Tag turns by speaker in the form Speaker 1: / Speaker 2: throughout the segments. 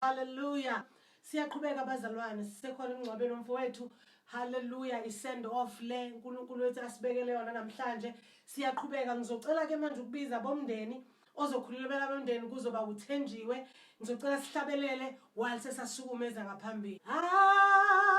Speaker 1: Hallelujah. Siyaqhubeka bazalwane sisekhona emngcwabeni omfowethu. Hallelujah isend off le uNkulunkulu wethu asibekele yona namhlanje. Siyaqhubeka ngizocela ke manje ukubiza bomndeni ozokhululebela abomndeni kuzoba uthenjiwe. Ngizocela sihlabelele while sesasukumeza ngaphambili. Alikho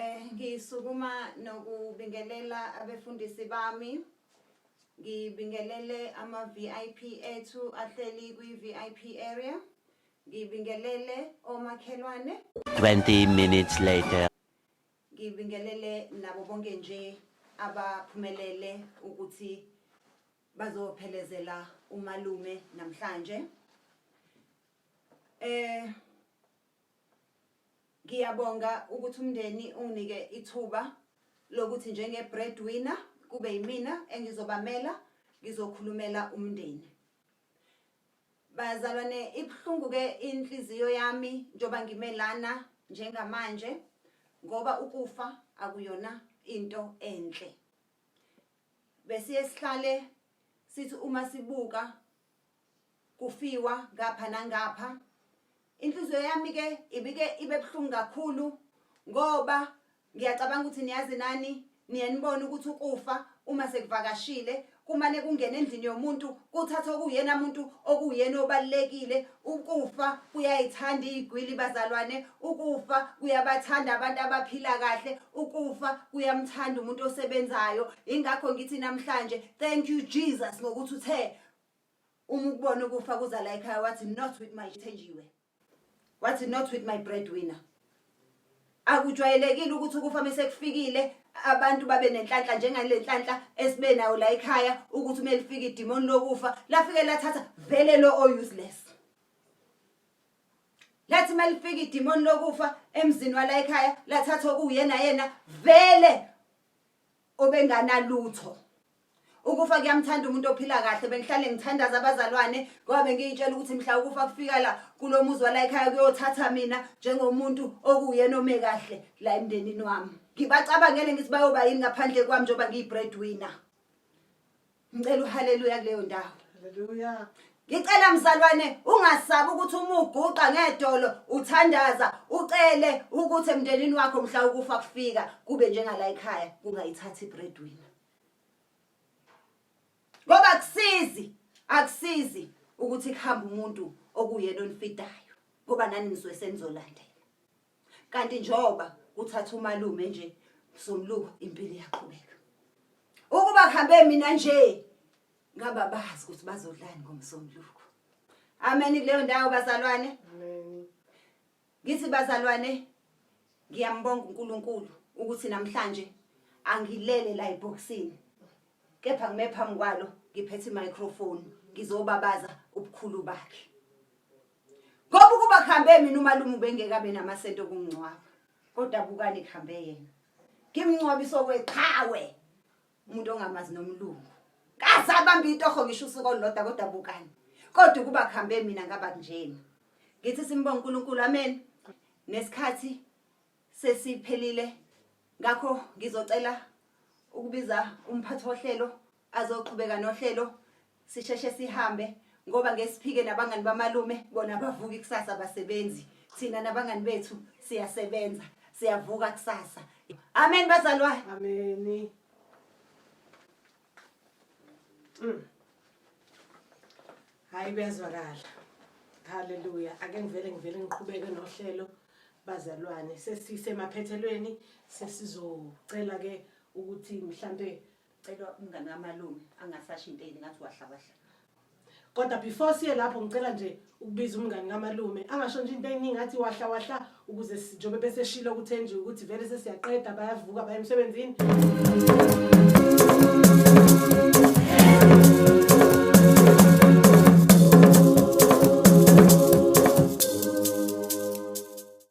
Speaker 2: Eh ngisukuma nokubingelela abefundisi bami ngibingelele ama VIP ethu ahleli kwi VIP area ngibingelele omakhelwane 20
Speaker 3: minutes later ngibingelele
Speaker 2: nabo bonke nje abaphumelele ukuthi bazophelezela umalume namhlanje eh Ngiyabonga ukuthi umndeni unginike ithuba lokuthi njenge-breadwinner kube yimina engizobamela, ngizokhulumela umndeni. Bazalwane, ibuhlungu-ke inhliziyo yami njengoba ngime lana njengamanje ngoba ukufa akuyona into enhle. Besiye sihlale sithi uma sibuka kufiwa ngapha nangapha inhliziyo yami ke ibike ibe buhlungu kakhulu ngoba ngiyacabanga ukuthi niyazi nani niyanibona ukuthi ukufa uma sekuvakashile kumane kungena endlini yomuntu kuthatha okuyena muntu okuyena obalekile ukufa kuyayithanda igwili bazalwane ukufa kuyabathanda abantu abaphila kahle ukufa kuyamthanda umuntu osebenzayo ingakho ngithi namhlanje thank you Jesus ngokuthi uthe uma ukubona ukufa kuza la ekhaya wathi not with my thenjiwe wathi not with my breadwinner akujwayelekile ukuthi ukufa mesekufikile abantu babe nenhlanhla njengale nhlanhla esibe nayo la ekhaya ukuthi uma lifika idimoni lokufa lafike lathatha vele lo o useless lathi uma lifika idimoni lokufa emzini wala ekhaya lathatha okuyena yena vele obenganalutho ukufa kuyamthanda umuntu ophila kahle bengihlale ngithandaza abazalwane ngoba bengiyitshela ukuthi mhla ukufa kufika la kulo muzi wala ekhaya kuyothatha mina njengomuntu okuyena ome kahle la emndenini wami ngibacabangele ngithi bayoba yini ngaphandle kwami njengoba ngiyi-breadwinner Ngicela uhaleluya kuleyo ndawo. Haleluya.
Speaker 1: Ngicela
Speaker 2: mzalwane ungasabi ukuthi uma uguqa ngedolo uthandaza ucele ukuthi emndenini wakho mhla ukufa kufika kube njengala ekhaya kungayithathi breadwinner. Ngoba kusizi akusizi ukuthi kuhamba umuntu okuyena onifidayo ngoba nani nizwe senizolandela. kanti njoba kuthatha umalume nje somluko impilo iyaqhubeka ukuba kuhambe mina nje ngaba bazi ukuthi bazodlani ngomsomluko amen kuleyo ndawo bazalwane amen
Speaker 1: ngithi
Speaker 2: bazalwane ngiyambonga uNkulunkulu ukuthi namhlanje angilele la eboxini kepha ngime phambi kwalo ngiphethe imicrophone ngizobabaza ubukhulu bakhe ngoba ukuba kuhambe mina umalume ubengekabe namasento okungcwaba kodwa bukani kuhambe yena ngimncwabisa okweqhawe umuntu ongamazi nomlungu kaze abambe itoho ngisho usuku olulodwa kodwa bukani kodwa ukuba kuhambe mina ngaba kunjena ngithi simbonga unkulunkulu amen nesikhathi sesiphelile ngakho ngizocela ukubiza umphathi wohlelo azoqhubeka nohlelo sisheshe sihambe ngoba ngesiphike nabangani bamalume bona bavuka ikusasa basebenzi thina nabangani bethu siyasebenza siyavuka kusasa amen bazalwa amen mm.
Speaker 1: hayi kuyazwakala haleluya ake ngivele ngivele ngiqhubeke nohlelo bazalwane sesisemaphethelweni sesizocela ke ukuthi mhlambe Cela umngane
Speaker 2: kamalume angasasho into eyini ngathi wahlawahla. Kodwa
Speaker 1: before siye lapho ngicela nje ukubiza umngane kamalume angasho nje into eyiningi ngathi wahla wahla ukuze si- njengoba bese shilo ukuthi enje ukuthi vele sesiyaqeda bayavuka baye emsebenzini.